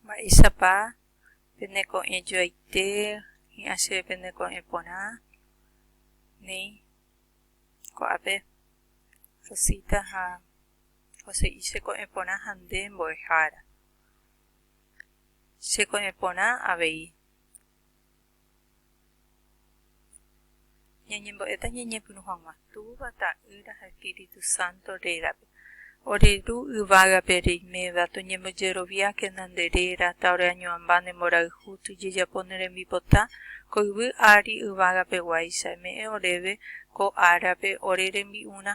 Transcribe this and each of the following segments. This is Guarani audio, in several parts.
Mba'éichapa pene ko'ẽjoaite hi'ã chéve pene ko'ẽ porã néi ko'ápe Rosita ha Joséi che ko'ẽ porã ha nde mbo'ehára. Che ko'ẽ porã avei. Ñañembo'éta ñañepyrũ hag̃ua Túva, Ta'ýra ha Espíritu Santo rérape. Ore Ru yvágape reiméva, toñembojeroviákena nde réra, ta ore añoamba ne mborayhu tojejapo ne rembipota ko yvy ári yvágape guáicha, eme'ẽ oréve ko árape ore rembi'urã.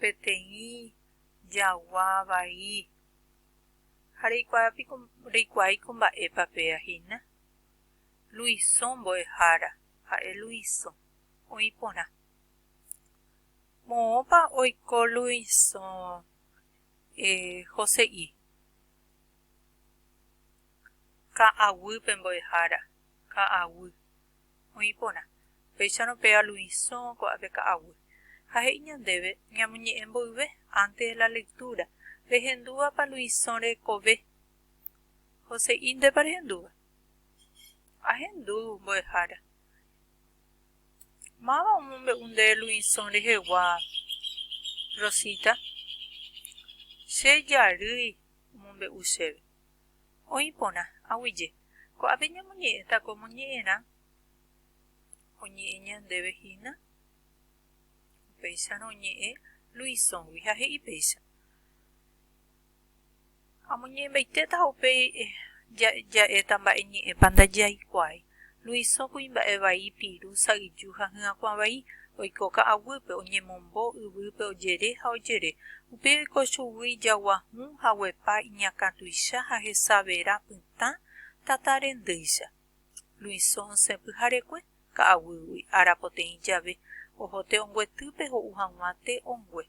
Peteĩ jagua vai. Ha reikuaa piko, reikuaaiko mba'épa péa hína? Luiso mbo'ehára, ha'e Luiso, oĩ porã. Moõpa oiko Luiso Jose'i? Ka'aguýpe mbo'ehára, ka'aguy. oĩ porã, upéicharõ pe aluisõ ko'ápe ka'aguy. Ha he'i ñandéve ñamoñe'ẽ mboyve, antes de la lectura, rehendúvapa luisõ rekove? Joséi, Ndépa rehendúva? Ahendu, mbo'ehára. Máva omombe'u nde luisõ rehegua? Rosita, Che jarýi omombe'u chéve. Oĩ porã, aguyje, ko'ápe ñamoñe'ẽta ko moñe'ẽrã oñe'ẽ ñandéve hína? Upéicharõ oñe'ẽ Luisõgui ha he'i péicha, Amoñe'ẽmbaitéta ha upéi ja'éta mba'e ñe'ẽpa ndajaikuaái. Luiso kuimba'e vai, piru, sa'yju ha hyakuã vai, oiko ka'aguýpe, oñemombo, yvýpe ojere ha ojere. Upéi oiko chugui ijagua hũ ha guepa iñakã tuicha ha hesavera pytã tata rendýicha. Luiso osẽ pyharekue, ka'aguýgui, ára poteĩ jave, oho te'onguetýpe ho'u hag̃ua te ongue.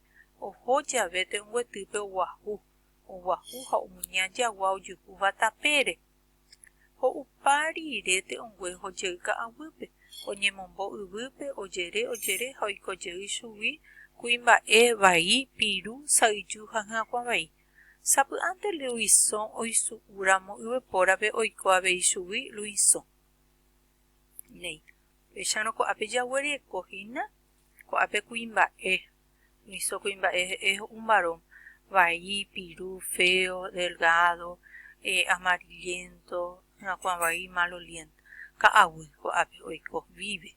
Oho jave te'onguetýpe oguahu, oguahu ha omuña jagua ojukúva tapére. Ho'upa riiréte ongue hojey ka'aguýpe, oñemombo yvýpe, ojere, ojere ha oiko jey chugui kuimba'e, vai, piru, sa'yju ha hyakuã vai. Sapy'ánte Luisõ oisu'u ramo yvypórape oiko avei chugui Luisõ. Néi, upéicharõ ko'ápe jaguereko hína ko'ápe kuimba'e. Miso kuimba'e he'e ho'úmaro, vai, piru, feo, delgado, amarillento, hyakuã vai, maloliento. Ka'aguy ko'ápe oiko, vive.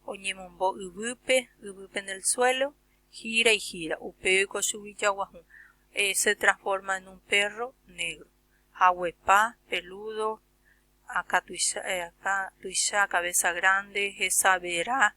Oñemombo yvýpe, yvýpe en el suelo, gira y gira. Upéi oiko chugui jaguahũ, se transforma en un perro negro. Haguepa, peludo, akatuicha, cabeza grande, hesa vera,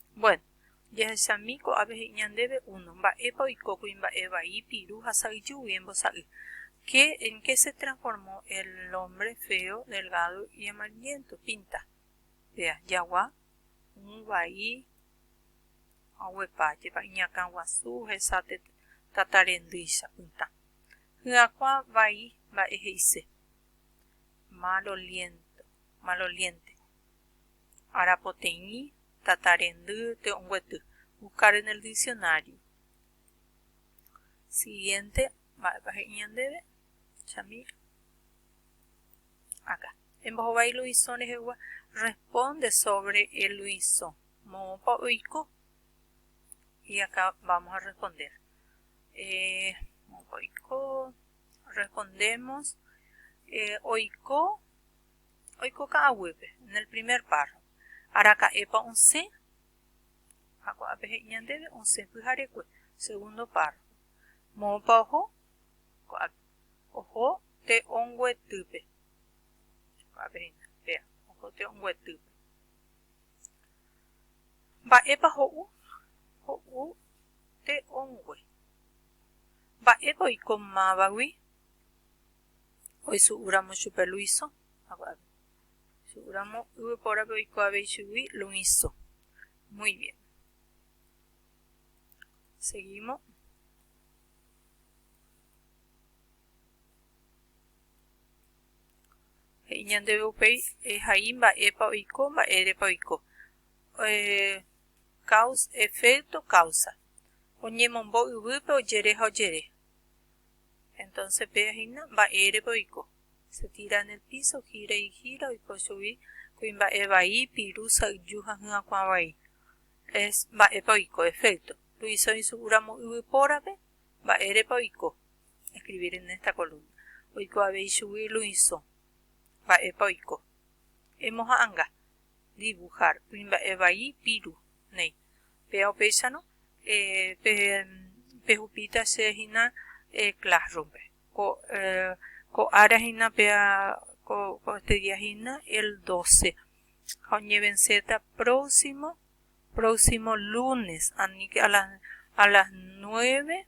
Bueno, jahechami ko'ápe he'i ñandéve uno, mba'épa oiko kuimba'e vai, piru ha sa'yjúgui embosa'y. Qué, en qué se transformó el hombre feo, delgado y amarillento? Pinta. Vea, jagua, un vai, haguepa, jepa iñakã guasu, hesa tata rendýicha, pytã. Hyakuã vai, mba'e he'ise. Mal oliento, maloliente. Arapoteĩ tata rendy te'onguety. Buscar en el diccionario. Siguiente. Mba'épa he'i ñandéve? Chami. Acá. Embohovái Luisõ rehegua. Responde sobre el Luisõ. Moõpa oiko. Y acá vamos a responder. Eh, moõpa oiko. Respondemos. Eh, oiko. Oiko ka'aguýpe, en el primer párrafo, araka'épa osẽ, ha ko'ápe he'i ñandéve osẽ pyharekue, segundo párrafo, moõpa oho, ko'ápe, oho te'onguetýpe, ko'ápe he'ína, vea, oho te'onguetýpe. Mba'épa ho'u? Ho'u te'ongue. Mba'épa oiko mávagui? oisu'úramo chupe Luiso, oisu'úramo yvypórape oikuaavei chugui Luiso. Muy bien. Seguimos. He'i ñandeve upéi ehai mba'épa oiko, mba'érepa oiko. Eh, causa, efecto, causa. Oñemombo yvýpe ojere ha ojere. Entonce péa hína, mba'érepa oiko? Se tira en el piso, gira y gira, oiko chugui kuimba'e vai, piru, sa'yju ha hyakuã vai. Es mba'épa oiko, efecto. Luiso isũ'u ramo yvy pórape, mba'érepa oiko? Escribir en esta columna. Oiko avei chugui Luiso. Mba'épa oiko? Emoha'anga. Dibujar. Kuimba'e vai, piru, néi. Péva upéicharõ pehupíta che hína Classroom-pe. Ko ára hína péva ko este día hína el doce. Ha oñevenséta próximo, próximo lunes, aníke a las nueve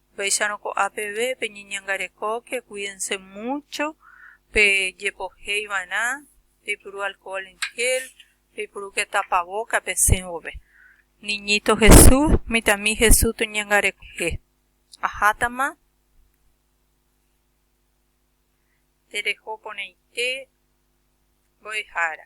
Upéicharõ ko'a peve peñeñangarekóke, kuídense múcho pejepohéiva'erã, peipuru alkóhol en jél, peipurúke tapavóka pesẽ vove. Niñíto Jesús, mitãmi Jesús toñangarekojehe. Ahátama tereho porãite mbo'ehára.